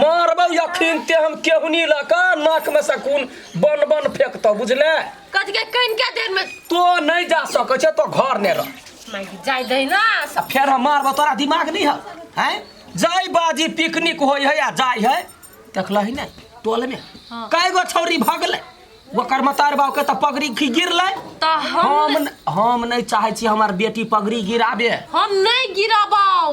मारबौ यखिन ते हम केहुनी लऽ कऽ नाकमे से खून बन बन फेकतौ बुझले कथी के कइन के देर में तो नहि जा सकै छै तो घर ने रह माय जाय दे ना आ फेर हम मारबौ तोरा दिमाग नहि हौ हैं जाय बाजी पिकनिक होइ है आ जाय है देखलही ने टोलमे हाँ। कए गो छौरी भगलै ओकर मतार बाबूके तऽ पगड़ी खी गिरलै त हम हम न- हम नहि चाहै छी हमर बेटी पगड़ी गिराबे हम नहीं गिराबाओ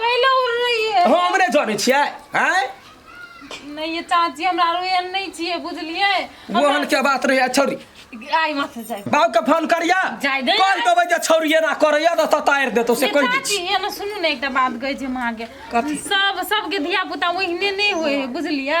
कैले उड़ रही है हम नहि जानै छियै आँय नहीं ये चाची हमरा रो एहन नहीं चाहिए बुझलिए ओहन के बात रहै छौरी आई मत जाए बाबू के फोन करिया जाय दे। कहि देबै जे छौरी एना करैया तऽ ततारि देतौ से ये कहि दै चाची छी ये ना सुनू ना एकटा बात गई जे माँ के कथी? सब सबके धिया पुता ओहने नहीं होए है बुझलिए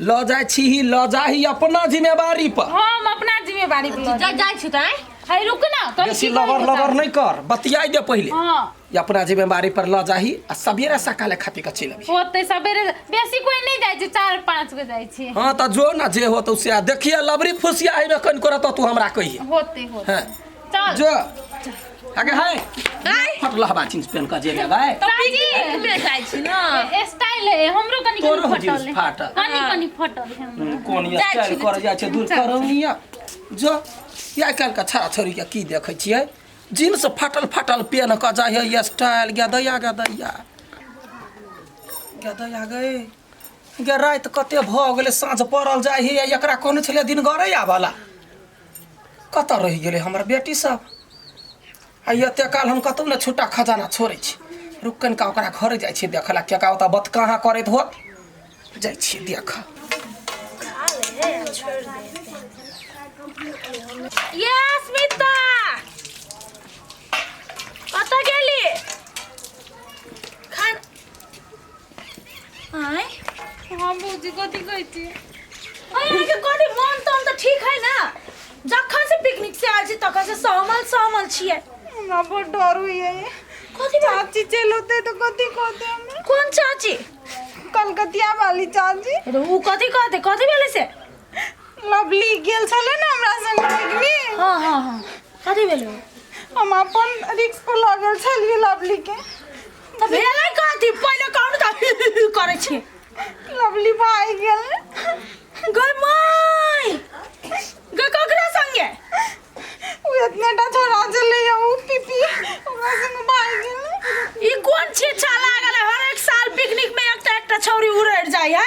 लऽ जाइ छीही लऽ जाही अपना जिम्मेवारी पर हम अपना जिम्मेवारी पर जा जाइ छी तैं है रुक ना कनी बेसी की लबर कहै लबर बताउ। नहि कर बतियाइ दे पहिले हाँ ई अपना जिम्मेवारी पर लऽ जाही आ सबेरे सकाले खातिर के चलि अबही ओते सबेरे बेसी कोई नहीं जाय छै चार पाँच गो जाय छै हाँ तऽ जो ना जे हो तऽ से देखिए लबरी फुसिया है कन करत तू हमरा कहिए होते होते हैं चल जो आगे है आय फटला हवा चिंस पेन का जेगा भाई तो पिकनिक में जाइ छी ना ए- स्टाइल है हमरो कनी तोरो कनी हो जींस फटल है फाटल। कनी कनी फटल है हमरो। कोन ये जाइ स्टाइल छी, कर जा छै दूर करौनिया जो या काल का छा छोरी के की देखै छियै जींस फाटल फाटल पेन का जाइ है ये स्टाइल गे दैया गे दैया गे दैया गए गे रात कते भऽ गेलै साँझ पड़ल जाइ है एकरा कोन छलै दिन गरे आबला कतऽ रहि गेलै हमर बेटी सब आ एते काल हम कतौ ने छुट्टा खजाना छोड़ै छी रुक कनिका ओकरा घरे जाइ छी देखऽ ला केका ओतऽ बत कहाँ करैत होत जाइ छी देख ये अस्मिता कतऽ गेली खान आय हाँ भौजी कथी कहै छी अरे अरे के कोटी मन तो हम तो ठीक है ना जखन से पिकनिक से आयल छी तखन से सहमल सहमल छियै हमरा बहुत डर हुई है कथी बात चाची चल होते तो कथी कहते हमें कोन चाची कलकतिया वाली चाची अरे ऊ कथी कहते कथी भेलै से लवली गेल छले ना हमरा संग पिकनिक हाँ हाँ हाँ कथी भेलै हम अपन रिक्स पर लागल छलिए लवली के तऽ भेलै कथी पहिले कहू तऽ करै छी लवली भाई गेल गै माय गै ककरा संगे उ इतने टा छोरा चले या उ पीपी ओकरा संग भाई गेल ई कोन छिछा लागल है हर एक साल पिकनिक में एकटा एकटा छौरी उड़ड़ जाइ है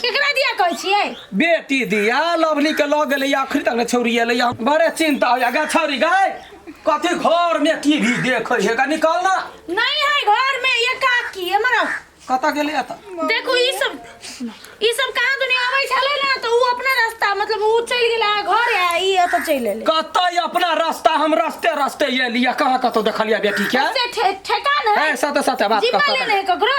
केकरा दिया कहै छियै बेटी दिया लवली के लग गेलै आखिर तक ने छौरी एलै हम बड़े चिंता होइया गा छौरी गाय कथी घर में टीवी देखै है गा निकल ना नहीं है घर में ये काकी हमरा कतऽ गेलै एतऽ देखू ई सब ई सब कहाँ दुनिया आबै छलै ना तो ऊ अपना रास्ता मतलब ऊ चलि गेला घर आ ई एतऽ चलि एलै कतऽ अपना रास्ता हम रस्ते रस्ते एलिया कहाँ कतौ देखलिया बेटी के से ठे- ठेकान है ऐ, साथे साथे बात जिम्मा करता लेने है ककरो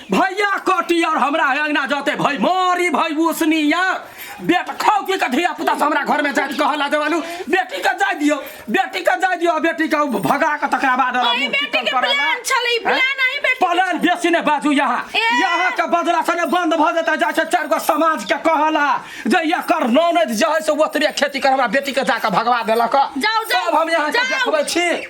भैया कटी और हमरा अंगना जाते भाई मारी भाई उसनिया बेट खाओ की कथिया पुता से हमरा घर में जात कहला देवालू बेटी का जाय दियो बेटी का जाय दियो बेटी का भगा के तकरा बाद वाला अरे मुंह बेटी चिकन के करेला। प्लान छलै, प्लान हैं? अहीं बेटी के प्लान बेसी ने बाजू यहाँ ए। यहाँ के बदला से ने बंद भ जेता जा छै चार गो समाज के कहला जे या कर नौनद जे है से ओतरे खेती कर हमरा बेटी के जाके भगवा देलक जाओ, जाओ, तब हम यहाँ के जाओ। देखबै छी